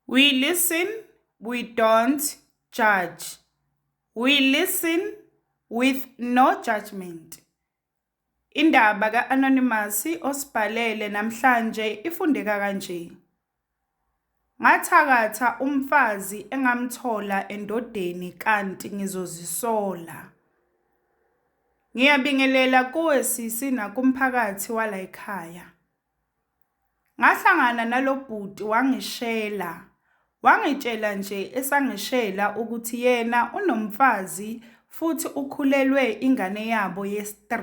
We listen, we don't judge. We listen with no judgment. Indaba ka-Anonymous osibhalele namhlanje ifundeka kanje. Ngathakatha umfazi engamthola endodeni kanti ngizozisola. Ngiyabingelela kuwe sisi nakumphakathi wala ekhaya. Ngahlangana nalobhuti wangishela. Wangitshela nje esangishela ukuthi yena unomfazi futhi ukhulelwe ingane yabo yes3.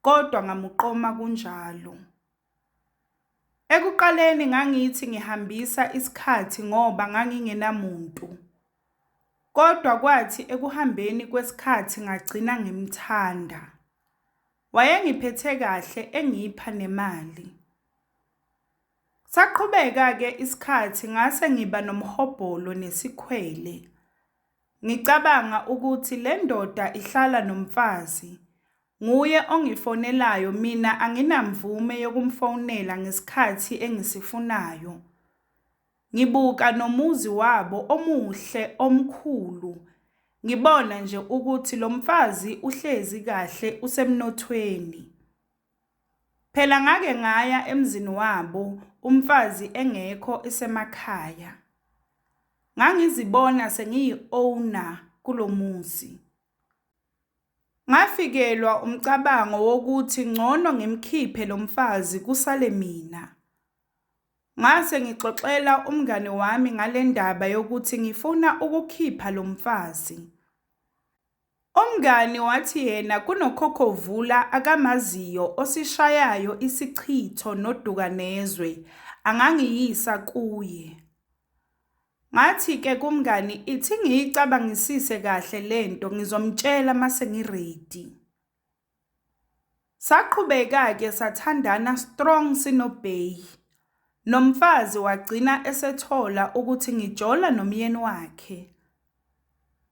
Kodwa ngamuqoma kunjalo. Ekuqaleni ngangithi ngihambisa isikhathi ngoba ngangingenamuntu. Kodwa kwathi ekuhambeni kwesikhathi ngagcina ngimthanda. Wayengiphethe kahle engipha nemali. Saqhubeka-ke isikhathi ngase ngiba nomhobholo nesikhwele. Ngicabanga ukuthi le ndoda ihlala nomfazi. Nguye ongifonelayo mina anginamvume yokumfonela ngesikhathi engisifunayo. Ngibuka nomuzi wabo omuhle omkhulu ngibona nje ukuthi lo mfazi uhlezi kahle usemnothweni. Phela ngake ngaya emzini wabo umfazi engekho isemakhaya. Ngangizibona sengiyi-owner kulo muzi. Ngafikelwa umcabango wokuthi ngcono ngimkhiphe lo mfazi kusale mina. Ngase ngixoxela umngane wami ngale ndaba yokuthi ngifuna ukukhipha lo mfazi. Umngani wathi yena kunokhokovula akamaziyo osishayayo isichitho noduka nezwe, angangiyisa kuye. Ngathi-ke kumngani ithi ngiyicabangisise kahle le nto ngizomtshela mase ngiredi. Saqhubeka-ke sathandana strong sinoBay. Nomfazi wagcina esethola ukuthi ngijola nomyeni wakhe.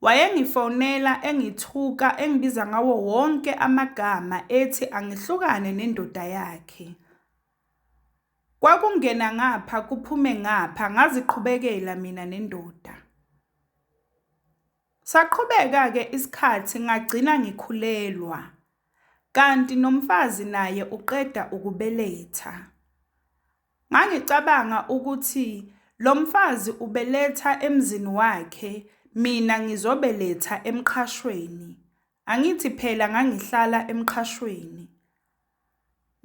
Wayengifonela engithuka engibiza ngawo wonke amagama ethi angihlukane nendoda yakhe. Kwakungena ngapha kuphume ngapha ngaziqhubekela mina nendoda. Saqhubeka-ke isikhathi ngagcina ngikhulelwa kanti nomfazi naye uqeda ukubeletha. Ngangicabanga ukuthi lo mfazi ubeletha emzini wakhe mina ngizobeletha emqhashweni, angithi phela ngangihlala emqhashweni.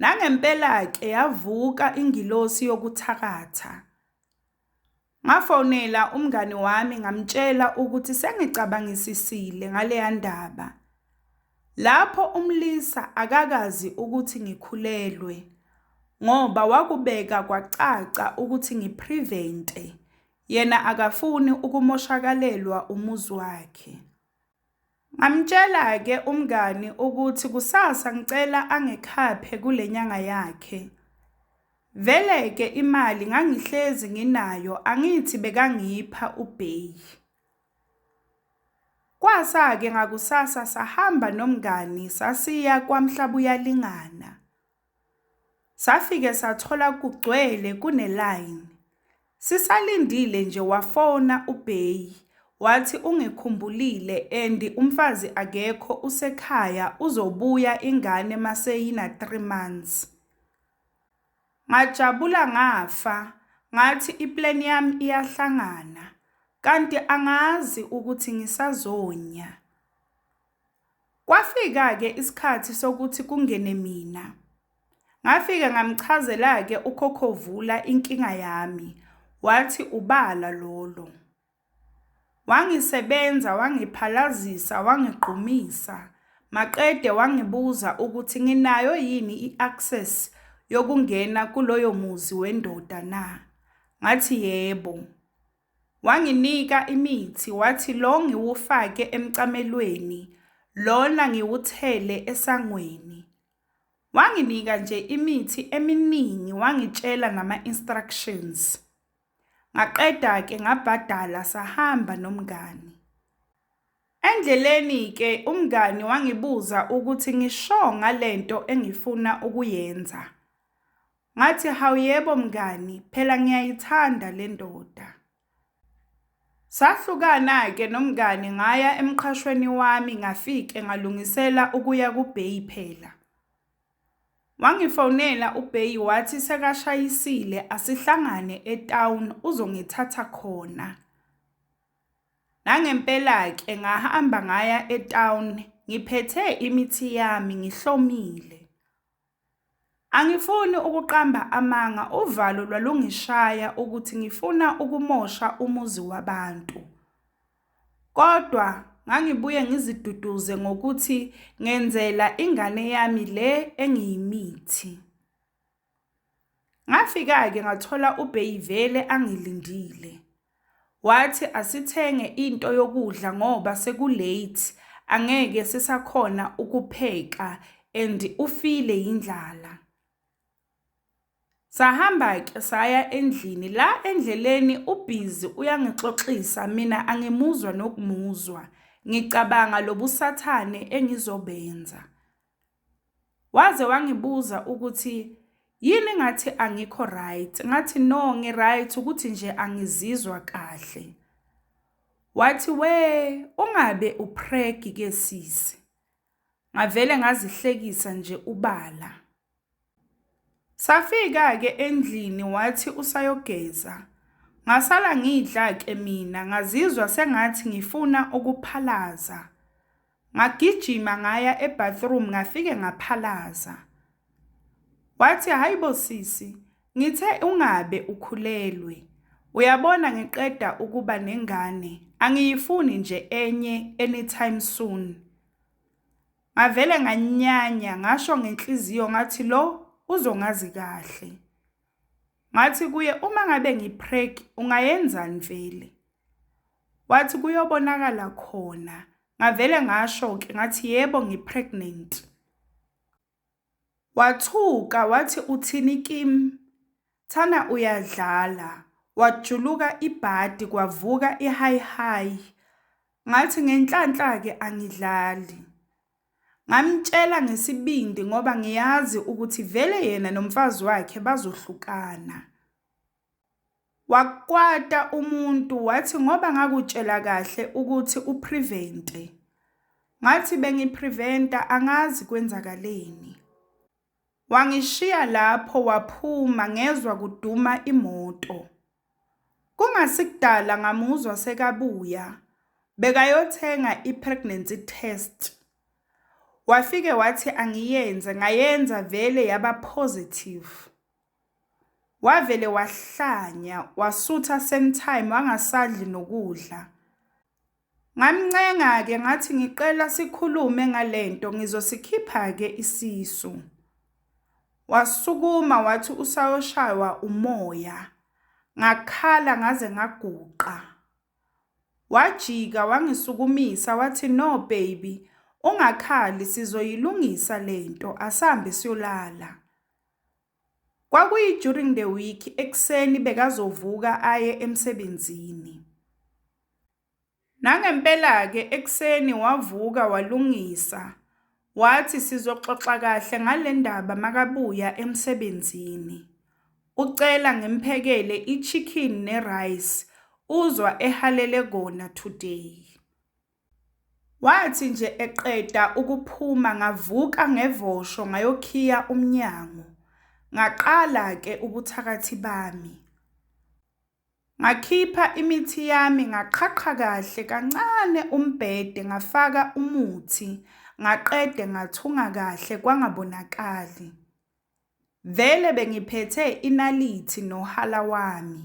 Nangempela-ke yavuka ingilosi yokuthakatha. Ngafonela umngani wami ngamtshela ukuthi sengicabangisisile ngaleya ndaba. Lapho umlisa akakazi ukuthi ngikhulelwe ngoba wakubeka kwacaca ukuthi ngiprevente. Yena akafuni ukumoshakalelwa umuzi wakhe. Ngamtshela-ke umngani ukuthi kusasa ngicela angikhaphe kule nyanga yakhe. Vele-ke imali ngangihlezi nginayo angithi bekangipha ubheyi. Kwasa-ke ngakusasa sahamba nomngani sasiya kwaMhlabuyalingana. Safike sathola kugcwele kunelayini. Sisalindile nje wafona uBheyi wathi ungikhumbulile and umfazi akekho usekhaya uzobuya ingane maseyina 3 months. Ngajabula ngafa ngathi iplan yami iyahlangana kanti angazi ukuthi ngisazonya. Kwafika-ke isikhathi sokuthi kungene mina. Ngafika ngamchazela-ke uKhokhovula inkinga yami, wathi ubala lolo. Wangisebenza, wangiphalazisa, wangigqumisa, maqede wangibuza ukuthi nginayo yini i-access yokungena kuloyo muzi wendoda na? Ngathi yebo. Wanginika imithi wathi lo ngiwufake emcamelweni lona ngiwuthele esangweni. Wanginika nje imithi eminingi wangitshela nama instructions. Ngaqeda ke ngabhadala sahamba nomngani. Endleleni ke umngani wangibuza ukuthi ngisho ngalento engifuna ukuyenza. Ngathi, Hawu yebo mngani, phela ngiyayithanda le ndoda. Sahlukana-ke nomngani ngaya emqhashweni wami ngafike ngalungisela ukuya kubheyi phela. Wangifonela ubheyi wathi sekashayisile asihlangane etown uzongithatha khona. Nangempela-ke ngahamba ngaya etown ngiphethe imithi yami ngihlomile. Angifuni ukuqamba amanga uvalo lwalungishaya ukuthi ngifuna ukumosha umuzi wabantu. Kodwa ngangibuye ngiziduduze ngokuthi ngenzela ingane yami le engiyimithi. Ngafika-ke ngathola uBay vele angilindile. Wathi asithenge into yokudla ngoba seku-late, angeke sisakhona ukupheka and ufile yindlala. Sahamba-ke saya endlini. La endleleni ubhizi uyangixoxisa mina angimuzwa nokumuzwa. Ngicabanga lobusathane engizobenza. Waze wangibuza ukuthi yini ngathi angikho right, ngathi no ngi-right ukuthi nje angizizwa kahle. Wathi we ungabe upregi ke sisi. Ngavele ngazihlekisa nje ubala. Safika-ke endlini wathi usayogeza. Ngasala ngidla-ke mina ngazizwa sengathi ngifuna ukuphalaza. Ngagijima ngaya e-bathroom ngafike ngaphalaza. Wathi hhayi bo sisi, ngithe ungabe ukhulelwe. Uyabona ngiqeda ukuba nengane, angiyifuni nje enye anytime soon. Ngavele nganyanya ngasho ngenhliziyo ngathi lo uzongazi kahle. Ngathi kuye uma ngabe ngipreg ungayenzani vele? Wathi kuyobonakala khona. Ngavele ngasho-ke ngathi yebo ngipregnant. Wathuka wathi uthini kim thana uyadlala wajuluka ibhadi kwavuka ihayihayi ngathi ngenhlanhla ke angidlali ngamtshela ngesibindi ngoba ngiyazi ukuthi vele yena nomfazi wakhe bazohlukana. Wakwata umuntu wathi ngoba ngakutshela kahle ukuthi uprevente. Ngathi bengipreventa angazi kwenzakaleni. Wangishiya lapho waphuma ngezwa kuduma imoto. Kungasikudala ngamuzwa sekabuya bekayothenga i-pregnancy test. Wafike wathi angiyenze ngayenza vele yaba positive. Wavele wahlanya, wasutha same time wangasadli nokudla. Ngamncenga-ke ngathi ngicela sikhulume ngalento ngizosikhipha-ke isisu. Wasukuma wathi usayoshaywa umoya. Ngakhala ngaze ngaguqa. Wajika wangisukumisa wathi no baby ungakhali sizoyilungisa lento asambe siyolala. Kwakuyi during the week ekuseni bekazovuka aye emsebenzini. Nangempela-ke ekuseni wavuka walungisa wathi sizoxoxa kahle ngale ndaba makabuya emsebenzini. Ucela ngimphekele i-chicken ne-rice uzwa ehalele kona today. Wathi nje eqeda ukuphuma ngavuka ngevosho ngayokhiya umnyango. Ngaqala ke ubuthakathi bami. Ngakhipha imithi yami ngaqhaqha kahle kancane umbhede ngafaka umuthi ngaqede ngathunga kahle kwangabonakali. Vele bengiphethe inalithi nohala wami.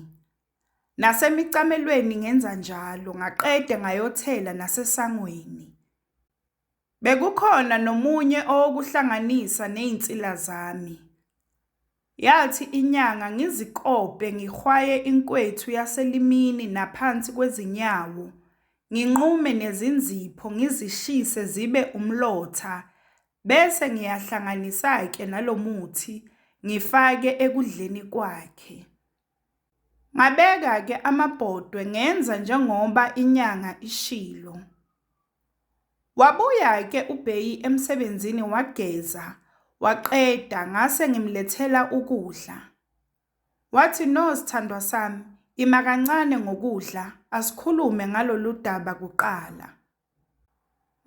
Nasemicamelweni ngenza njalo, ngaqede ngayothela nasesangweni. Bekukhona nomunye owokuhlanganisa nezinsila zami. Yathi inyanga ngizikope ngihwaye inkwethu yaselimini naphansi kwezinyawo, nginqume nezinzipho ngizishise zibe umlotha bese ngiyahlanganisa-ke nalo muthi ngifake ekudleni kwakhe. Ngabeka-ke amabhodwe ngenza njengoba inyanga ishilo. Wabuya-ke uBheyi emsebenzini wageza waqeda ngase ngimlethela ukudla. Wathi no sthandwa sami ima kancane ngokudla asikhulume ngalolu daba kuqala.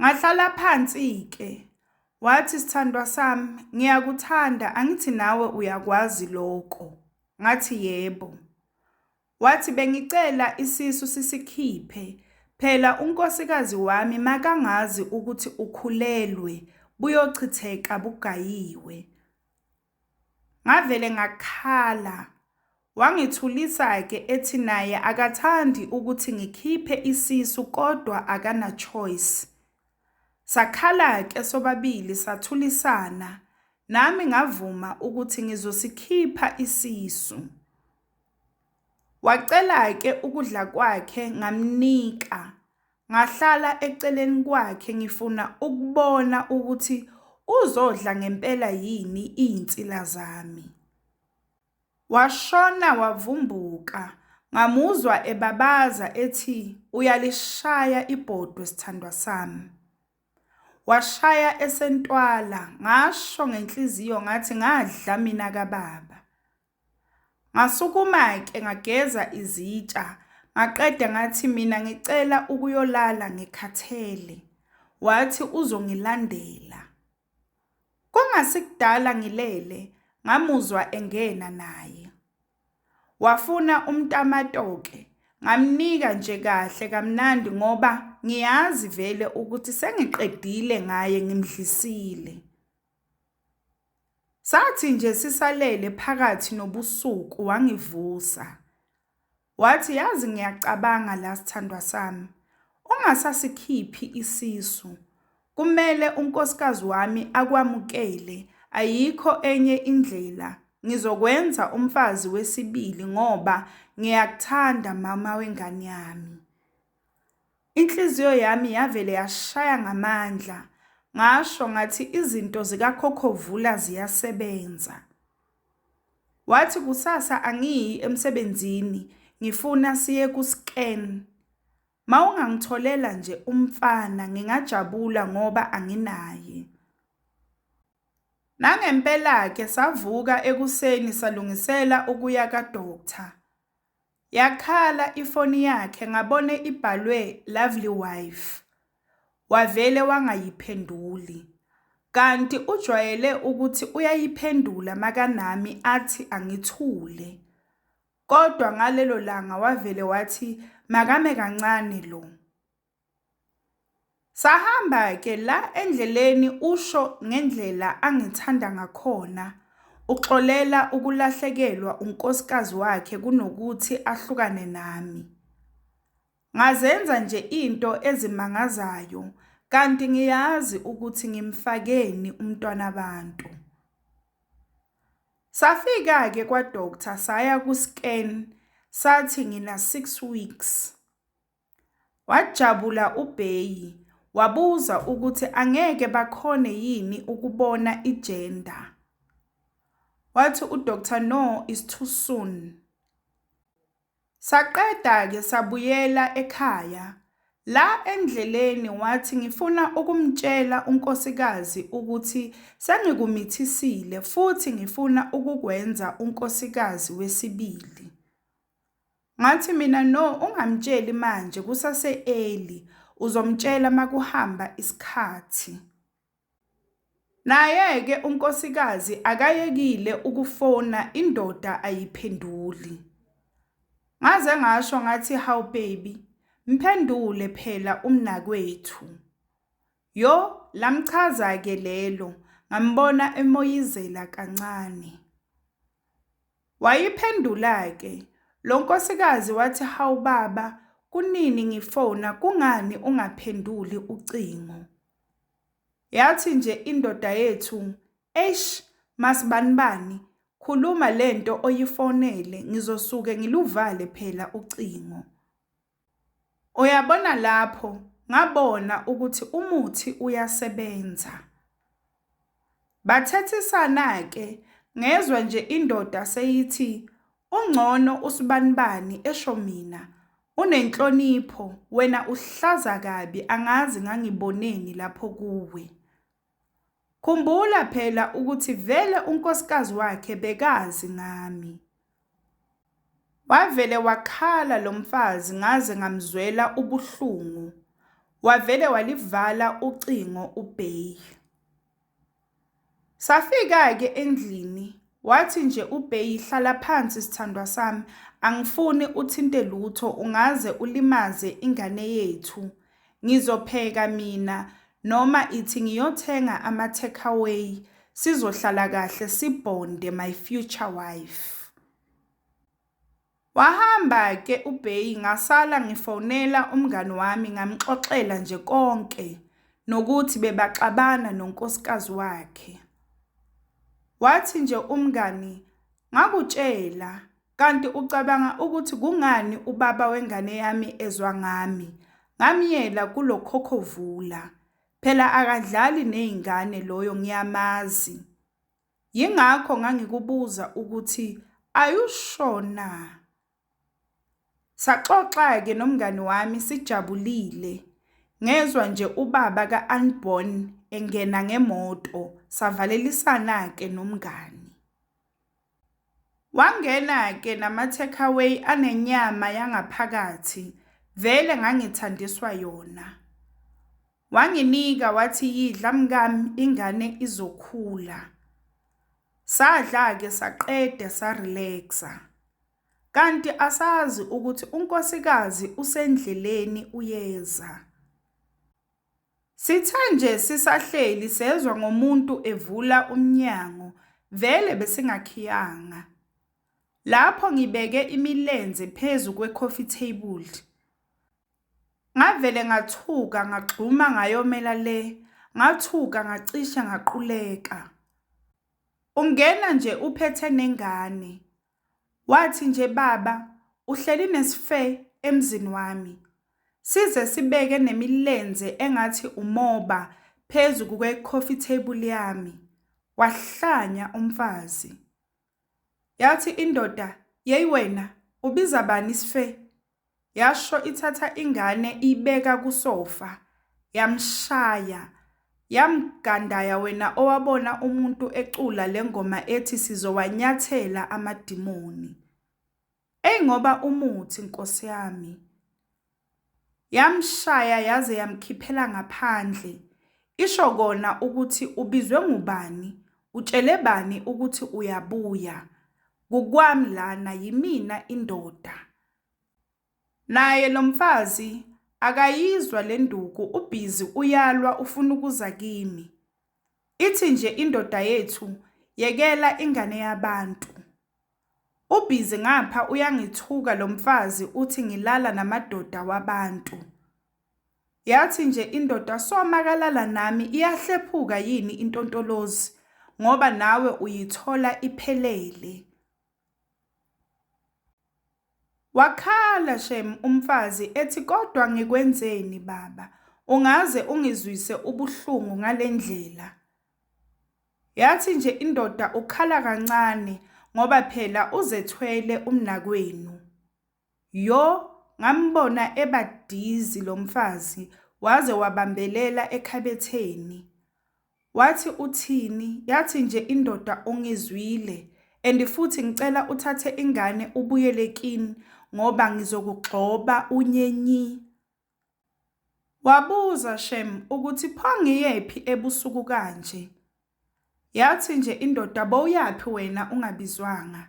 Ngahlala phansi-ke, wathi, S'thandwa sami, ngiyakuthanda, angithi nawe uyakwazi loko? Ngathi, Yebo. Wathi, Bengicela isisu sisikhiphe, phela unkosikazi wami makangazi ukuthi ukhulelwe, buyochitheka bugayiwe. Ngavele ngakhala. Wangithulisa-ke ethi naye akathandi ukuthi ngikhiphe isisu kodwa akana-choice. Sakhala-ke sobabili sathulisana, nami ngavuma ukuthi ngizosikhipha isisu. Wacela-ke ukudla kwakhe ngamnika, Ngahlala eceleni kwakhe ngifuna ukubona ukuthi uzodla ngempela yini iy'nsila zami. Washona wavumbuka, ngamuzwa ebabaza ethi uyalishaya ibhodwe sithandwa sami. Washaya esentwala, ngasho ngenhliziyo ngathi ngadla mina kababa. Ngasukuma-ke ngageza izitsha, ngaqeda ngathi mina ngicela ukuyolala ngikhathele. Wathi uzongilandela. Kungasikudala ngilele, ngamuzwa engena naye. Wafuna umtamatoke, ngamnika nje kahle kamnandi ngoba ngiyazi vele ukuthi sengiqedile ngaye ngimdlisile. Sathi nje sisalele phakathi nobusuku wangivusa. Wathi yazi ngiyacabanga la sithandwa sami. Ungasasikhiphi isisu. Kumele unkosikazi wami akwamukele ayikho enye indlela. Ngizokwenza umfazi wesibili ngoba ngiyakuthanda mama wengane yami. Inhliziyo yami yavele yashaya ngamandla, ngasho ngathi izinto zikaKhokhovula ziyasebenza. Wathi kusasa angiyi emsebenzini ngifuna siye ku-scan. Mawungangitholela nje umfana ngingajabula ngoba anginaye. Nangempela-ke savuka ekuseni salungisela ukuya ka-doctor. Yakhala ifoni yakhe ngabone ibhalwe lovely wife wavele wangayiphenduli kanti ujwayele ukuthi uyayiphendula makanami athi angithule kodwa ngalelo langa wavele wathi makame kancane lo Sahamba-ke la endleleni usho ngendlela angithanda ngakhona. Uxolela ukulahlekelwa unkosikazi wakhe kunokuthi ahlukane nami. Ngazenza nje into ezimangazayo kanti ngiyazi ukuthi ngimfakeni umntwana abantu. Safika-ke kwa-doctor saya ku-scan sathi ngina-six weeks. Wajabula uBeyi wabuza ukuthi angeke bakhone yini ukubona i-gender. Wathi uDr No is too soon. Saqeda-ke sabuyela ekhaya. La endleleni wathi ngifuna ukumtshela unkosikazi ukuthi sengikumithisile futhi ngifuna ukukwenza unkosikazi wesibili. Ngathi mina no ungamtsheli manje kusase early uzomtshela makuhamba isikhathi. Naye-ke unkosikazi akayekile ukufona indoda ayiphenduli. Ngaze ngasho ngathi how baby mphendule phela umnakwethu. Yo lamchaza-ke lelo ngambona emoyizela kancane. Wayiphendula-ke lo nkosikazi wathi hawu baba kunini ngifona kungani ungaphenduli ucingo. Yathi nje indoda yethu eish masibanibani khuluma lento oyifonele ngizosuke ngiluvale phela ucingo. Uyabona lapho ngabona ukuthi umuthi uyasebenza. Bathethisana-ke ngezwa nje indoda seyithi ungcono usibanibani esho mina unenhlonipho wena uhlaza kabi angazi ngangiboneni lapho kuwe. Khumbula phela ukuthi vele unkosikazi wakhe bekazi ngami. Wavele wakhala lo mfazi ngaze ngamzwela ubuhlungu. Wavele walivala ucingo uBeyi. Safika-ke endlini wathi nje uBeyi hlala phansi sithandwa sami angifuni uthinte lutho ungaze ulimaze ingane yethu Ngizopheka mina noma ithi ngiyothenga ama takeaway sizohlala kahle sibhonde my future wife. Wahamba ke uBay ngasala ngifonela umngani wami ngamxoxela nje konke nokuthi bebaxabana nonkosikazi wakhe. Wathi nje umngani ngakutshela Kanti ucabanga ukuthi kungani ubaba wengane yami ezwa ngami? Ngamyela kulo khokhovula. Phela akadlali nezingane loyo ngiyamazi. Yingakho ngangikubuza ukuthi are you sure na? Saxoxa-ke nomngani wami sijabulile. Ngezwa nje ubaba ka-Unborn engena ngemoto, savalelisana-ke nomngani. Wangena-ke nama-takeaway anenyama yangaphakathi, vele ngangithandiswa yona. Wanginika wathi yidla mkami ingane izokhula. Sadla-ke saqede sa-relax-a. Kanti asazi ukuthi unkosikazi usendleleni uyeza. Sithe nje sisahleli sezwa ngomuntu evula umnyango, vele besingakhiyanga. Lapho ngibeke imilenze phezu kwe-coffee table. Ngavele ngathuka ngagxuma ngayomela le, ngathuka ngacishe ngaquleka. Ungena nje uphethe nengane, Wathi nje baba uhleli nesfe emzini wami. Size sibeke nemilenze engathi umoba phezu kuke coffee table yami. Wahlanya umfazi. Yathi indoda, "Yey wena, ubiza bani isfe?" Yasho ithatha ingane iyibeka kusofa yamshaya yamgandaya wena owabona umuntu ecula lengoma ethi sizowanyathela amadimoni. Ey ngoba umuthi nkosi yami. Yamshaya yaze yamkhiphela ngaphandle. Isho kona ukuthi ubizwe ngubani, utshele bani ukuthi uyabuya. Kukwami lana yimina indoda. Naye lomfazi akayizwa lenduku ubhizi uyalwa ufuna ukuza kimi. Ithi nje indoda yethu yekela ingane yabantu. Ubhizi ngapha uyangithuka lomfazi uthi ngilala namadoda wabantu. Yathi nje indoda soma kalala nami iyahlephuka yini intontolozi ngoba nawe uyithola iphelele. Wakhala shem umfazi ethi kodwa ngikwenzeni baba ungaze ungizwise ubuhlungu ngalendlela. Yathi nje indoda ukhala kancane ngoba phela uzethwele umnakwenu. Yo ngambona eba dizzy lomfazi waze wabambelela ekhabetheni Wathi uthini yathi nje indoda ungizwile and futhi ngicela uthathe ingane ubuyele kin ngoba ngizokugxoba unye nyi. Wabuza shem ukuthi pho ngiyephi ebusuku kanje. Yathi nje indoda bowuyaphi wena ungabizwanga.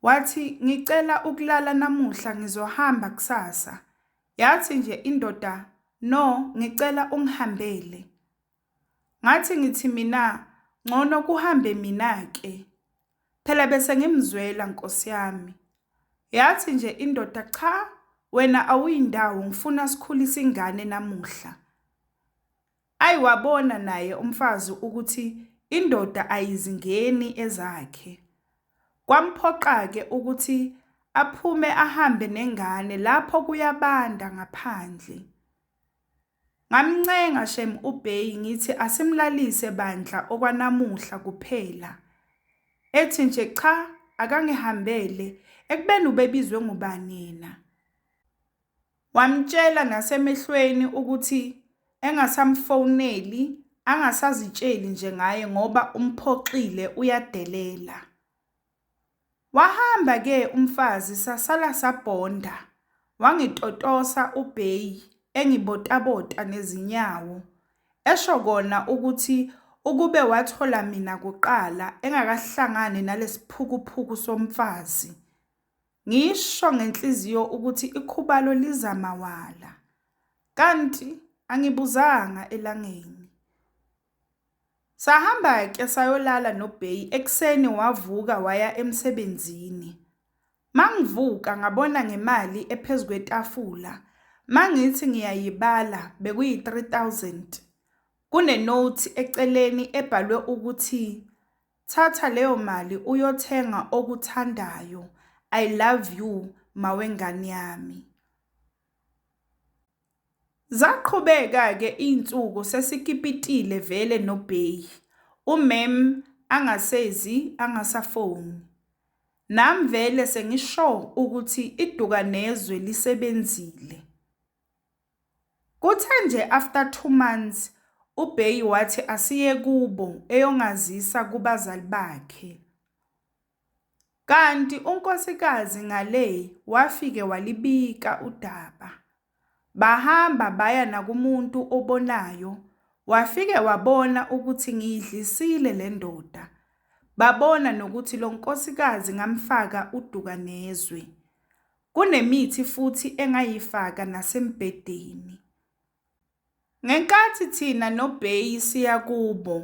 Wathi ngicela ukulala namuhla ngizohamba kusasa. Yathi nje indoda no ngicela ungihambele. Ngathi ngithi mina ngcono kuhambe mina ke. Phela bese ngimzwela Nkosi yami. Yathi nje indoda cha wena awuyindawo ngifuna sikhulise ingane namuhla. Ayi wabona naye umfazi ukuthi indoda ayizingeni ezakhe. Kwamphoqa-ke ukuthi aphume ahambe nengane lapho kuyabanda ngaphandle. Ngamncenga shem uBay ngithi asimlalise bandla okwanamuhla kuphela. Ethi nje cha akangihambele ekubeni ubebizwe ngubani yena. Wamtshela nasemehlweni ukuthi engasamfoneli angasazitsheli nje ngaye ngoba umphoxile uyadelela. Wahamba ke umfazi sasala sabhonda wangitotosa uBey engibotabota nezinyawo esho kona ukuthi ukube wathola mina kuqala engakahlangani nalesiphukuphuku somfazi. Ngisho ngenhliziyo ukuthi ikhubalo liza mawala. Kanti angibuzanga elangeni. Sahamba ke sayolala noBay ekuseni wavuka waya emsebenzini. Mangivuka ngabona ngemali ephezu kwetafula. Mangithi ngiyayibala bekuyi-3000. Kunenothi eceleni ebhalwe ukuthi thatha leyo mali uyothenga okuthandayo. I love you mawengane yami. Zaqhubeka-ke iy'nsuku sesikipitile vele nobheyi, umem angasezi angasafoni. Nam vele sengi-sure ukuthi idukanezwe lisebenzile. Kuthe nje after two months ubheyi wathi asiye kubo eyongazisa kubazali bakhe. Kanti uNkosikazi Ngaley wafike walibika udaba. Bahamba baya nakumuntu obonayo, wafike wabona ukuthi ngiyidlisile le ndoda. Babona nokuthi lo nkosikazi ngamfaka uduka nezwe. Kunemithi futhi engayifaka nasembhedeni. Ngenkathi thina noBey siya kubo,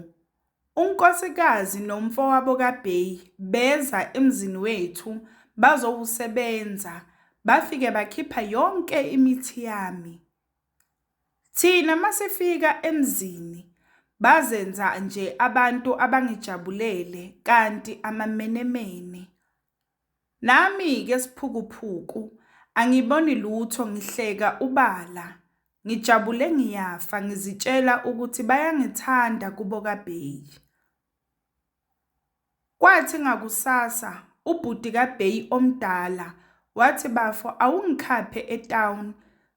unkosikazi nomfowabo kaBey beza emzini wethu bazowusebenza, bafike bakhipha yonke imithi yami. Thina masifika emzini, bazenza nje abantu abangijabulele kanti amamenemene. Nami ke sphukuphuku angiboni lutho ngihleka ubala ngijabule ngiyafa ngizitshela ukuthi bayangithanda kubo ka Bey. Kwathi ngakusasa ubhuti ka Bey omdala wathi bafo awungikhaphe e town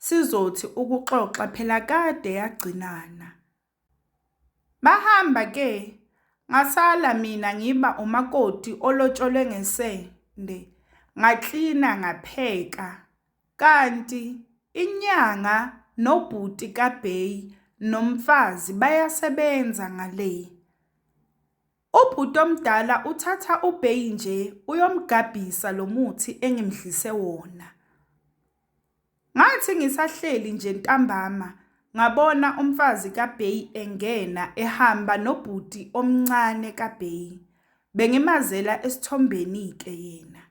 sizothi ukuxoxa phela kade yagcinana. Bahamba ke ngasala mina ngiba umakoti olotsholwe ngesende ngaklina ngapheka kanti inyanga nobhuti kabheyi nomfazi bayasebenza ngale. Ubhuti omdala uthatha ubeyi nje uyomgabhisa lo muthi engimdlise wona. Ngathi ngisahleli nje ntambama ngabona umfazi kabeyi engena ehamba nobhuti omncane kabeyi. Bengimazela esithombeni-ke yena.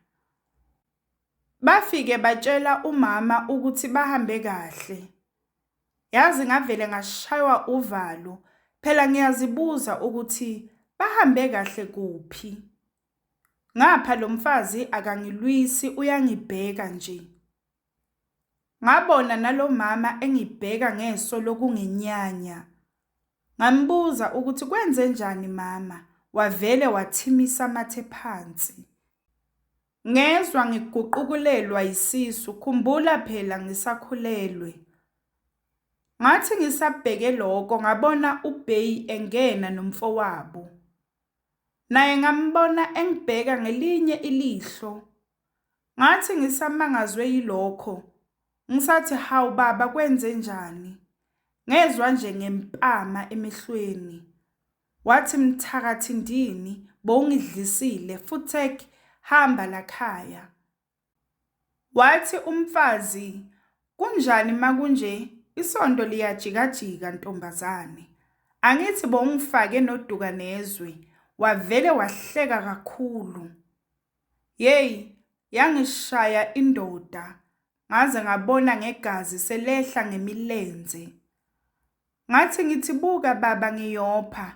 Bafike batshela umama ukuthi bahambe kahle. Yazi ngavele ngashaywa uvalo phela ngiyazibuza ukuthi bahambe kahle kuphi. Ngapha lo mfazi akangilwisi uyangibheka nje. Ngabona nalomama engibheka ngeso lokunginyanya. Ngambuza ukuthi kwenze njani mama, wavele wathimisa amathe phansi. Ngezwa ngiguqukulelwa yisisu, khumbula phela ngisakhulelwe. Ngathi ngisabheke lokho ngabona uBay engena nomfowabo. Naye ngambona engibheka ngelinye ilihlo. Ngathi ngisamangazwe yilokho, ngisathi hawu baba kwenze njani? Ngezwa nje ngempama emehlweni. Wathi mthakathi ndini bowungidlisile futsek hamba lakhaya. Wathi umfazi kunjani makunje isonto liyajikajika ntombazane. Angithi bowungifake noduka nezwe wavele wahleka kakhulu. Yey yangishaya indoda ngaze ngabona ngegazi selehla ngemilenze ngathi ngithi buka baba ngiyopha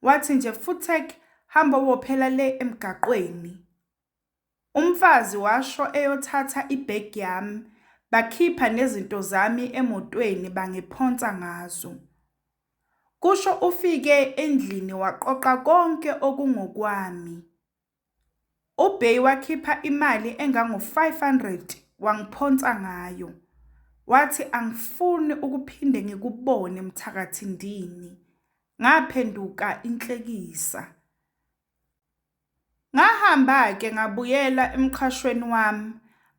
wathi nje futhek hamba wophela le emgaqweni umfazi washo eyothatha ibhegi yami bakhipha nezinto zami emotweni bangiphonsa ngazo kusho ufike endlini waqoqa konke okungokwami UBay wakhipha imali engango-500 wangiphonsa ngayo, wathi angifuni ukuphinde ngikubone mthakathi ndini. Ngaphenduka inhlekisa. Ngahamba-ke ngabuyela emqhashweni wami,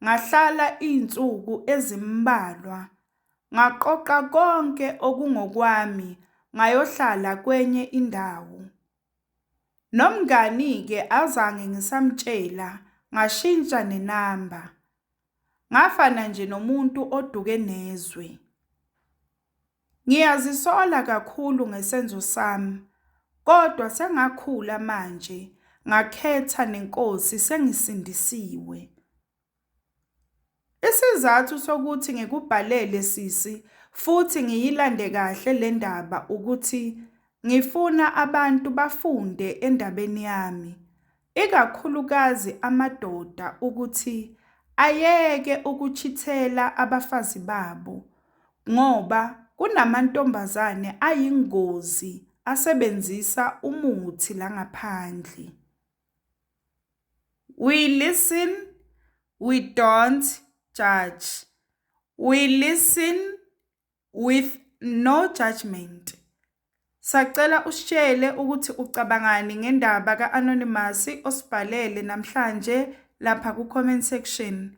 ngahlala iy'nsuku ezimbalwa. Ngaqoqa konke okungokwami ngayohlala kwenye indawo. Nomngani-ke azange ngisamtshela ngashintsha nenamba. Ngafana nje nomuntu oduke nezwe. Ngiyazisola kakhulu ngesenzo sami kodwa sengakhula manje ngakhetha nenkosi sengisindisiwe. Isizathu sokuthi ngikubhalele sisi futhi ngiyilande kahle le ndaba ukuthi ngifuna abantu bafunde endabeni yami, ikakhulukazi amadoda ukuthi ayeke ukuchithela abafazi babo ngoba kunamantombazane ayingozi asebenzisa umuthi la ngaphandle. We listen, we don't judge. We listen with no judgment. Sacela usitshele ukuthi ucabangani ngendaba ka-Anonymous osibhalele namhlanje lapha ku-comment section.